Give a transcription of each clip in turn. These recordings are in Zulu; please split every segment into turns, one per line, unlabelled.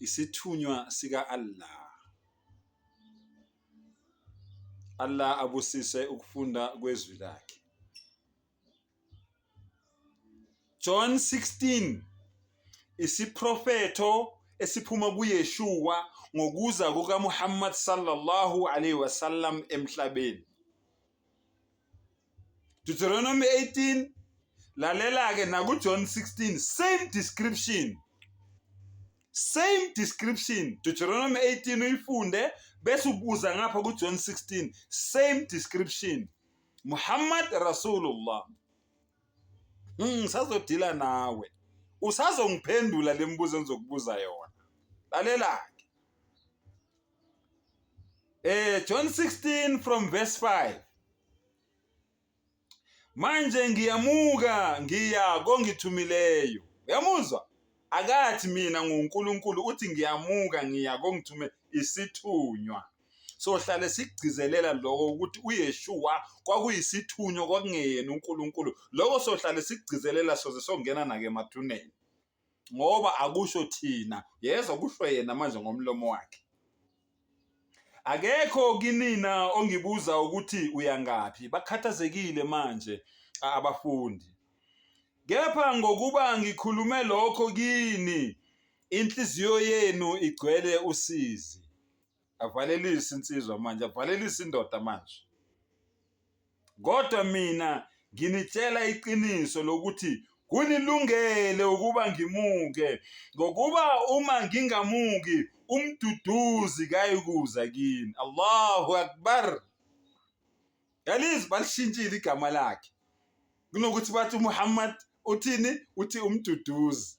Isithunywa sika Allah. Allah abusise ukufunda kwezwi lakhe. John 16 isiprofetho esiphuma kuYeshua ngokuza kukaMuhammad sallallahu alaihi wasallam emhlabeni. Deuteronomy 18 lalela ke naku John 16 same description same description Deuteronomy 18 uyifunde bese ubuza ngapha ku John 16 same description Muhammad Rasulullah hmm, ngisazodila mm, nawe usazongiphendula lemibuzo engizokubuza yona lalela Eh John 16 from verse 5. Manje ngiyamuka ngiya kongithumileyo. Uyamuzwa? Akathi mina nguNkulunkulu uthi ngiyamuka ngiya kongithume isithunywa. sohlale sigcizelela lokho ukuthi uyeshuwa kwakuyisithunywa kwakungeyena unkulunkulu lokho sohlale sigcizelela soze songena nake emathuneni ngoba akusho thina yezwa kusho yena manje ngomlomo wakhe akekho kinina ongibuza ukuthi uyangaphi bakhathazekile manje abafundi kepha ngokuba ngikhulume lokho kini inhliziyo yenu igcwele usizi avalelise insizwa manje avalelise indoda manje kodwa mina nginitshela iqiniso lokuthi kunilungele ukuba ngimuke ngokuba uma ngingamuki umduduzi kayikuza kini Allahu akbar yalizwi balishintshile igama lakhe kunokuthi bathi uMuhammad uthini uthi umduduzi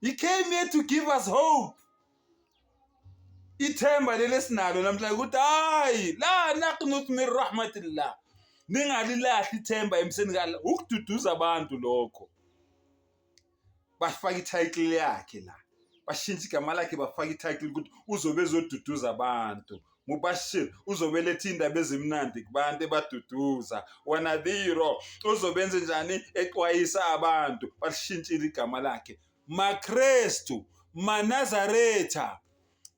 He came here to give us hope. Ithemba leli esinalo namhlanje ukuthi hayi la naqnut min rahmatillah. Ningalilahli ithemba emseni kala ukududuza abantu lokho. Bafaka i-title yakhe la. Bashintsha igama lakhe bafaka i-title ukuthi uzobe ezoduduza abantu. Mubashir uzobeletha indaba ezimnandi kubantu ebaduduza wanadhiro uzobenze njani exwayisa abantu balishintshile igama lakhe makrestu manazaretha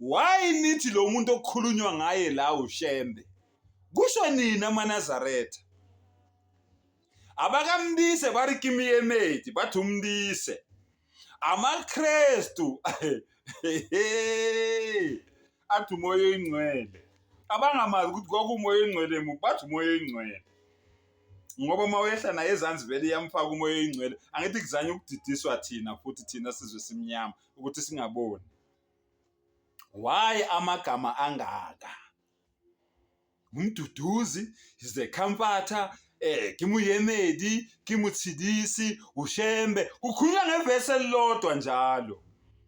why nithi lo muntu okukhulunywa ngaye la ushembe kusho nini amanazaretha abakamndise bari kimiyemedi bathi umndise amakrestu athi umoya oyingcwele abangamazi ukuthi kwakumoya oyingcwele muphi bathi umoya oyingcwele ngoba uma wehla naye ezansi vele iyamfaka umoya oyingcwele angithi kuzanye ukudidiswa thina futhi thina sizwe simnyama ukuthi singaboni why amagama angaka Umduduzi is the comforter eh ke moyemedi ke motshedisi ushembe kukhulunywa ngevesi elilodwa njalo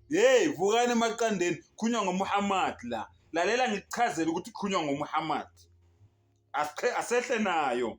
hey vukani emaqandeni kukhulunywa ngomuhammad la lalela ngikuchazela ukuthi kukhulunywa ngomuhammad asehle nayo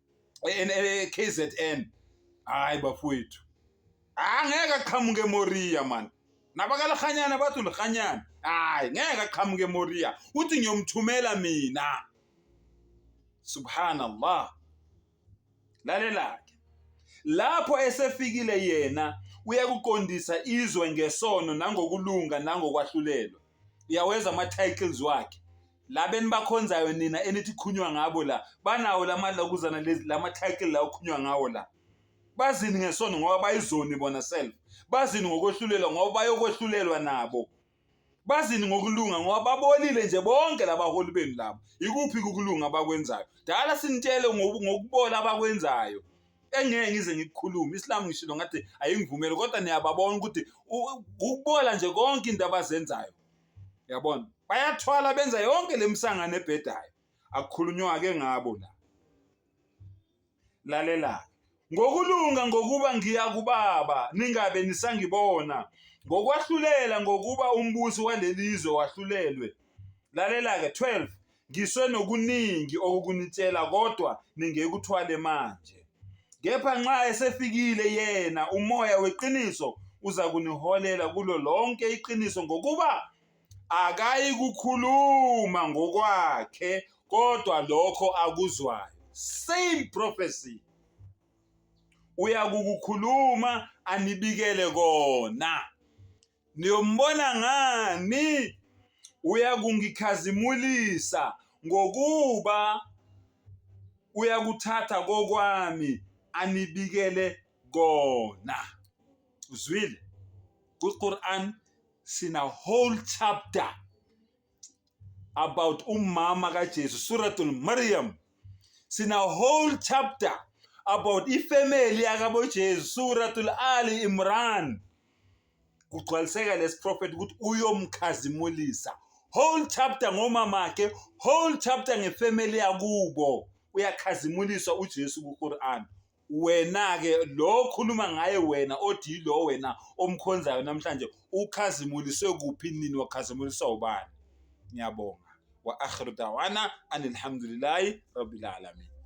eKZN hayi bafowethu angeke aqhamuke emoriya mani nabakalirhanyana bathi ulirhanyana hayi ngeke aqhamuke emoriya uthi ngiyomthumela mina subhanallah lalela-ke lapho esefikile yena uyakuqondisa izwe ngesono nangokulunga nangokwahlulelwa uyaweza ama-titles wakhe laba enibakhonzayo nina enithi khunywa ngabo la banawo lamalokuzana lezi lama-title la okhunywa ngawo la bazini ngesono ngoba bayizoni bona self bazini ngokwehlulelwa ngoba bayokwehlulelwa nabo bazini ngokulunga ngoba babolile nje bonke labaholi benu labo ikuphi kukulunga abakwenzayo dala sinitshele ngokubola abakwenzayo engeke ngize ngikukhulume isilamu ngishilo ngathi ayingivumeli kodwa niyababona ukuthi ukubola nje konke into abazenzayo yabona bayathwala benza yonke lemisangano ebhedayo akukhulunywake ngabo la lalela ngokulunga ngokuba ngiya kubaba ningabe nisangibona ngokwahlulela ngokuba umbusi walelizwe wahlulelwe lalela ke 12 Ngiswe nokuningi okukunitshela kodwa ningekuthwale manje. Kepha nxa esefikile yena umoya weqiniso uza kuniholela kulo lonke iqiniso ngokuba akayi kukhuluma ngokwakhe kodwa lokho akuzwayo same prophecy uyakukukhuluma anibikele kona Niyombona ngani? Uyakungikhazimulisa ngokuba uyakuthatha kokwami anibikele kona. Uzwile? Ku-Quran sina whole chapter about umama kaJesu suratul Maryam sina whole chapter about ifamily yakabo Jesu suratul Ali Imran kugcwaliseka lesi prophet ukuthi uyomkhazimulisa whole chapter ngomama ke whole chapter ngefamily yakubo uyakhazimuliswa uJesu kuQuran Wena-ke lo okhuluma ngaye wena othi yilo wena omkhonzayo namhlanje ukhazimuliswe kuphi nini wakhazimuliswa ubani? Ngiyabonga. Wa akhiru dawana anilhamdulillahi rabbil alamin.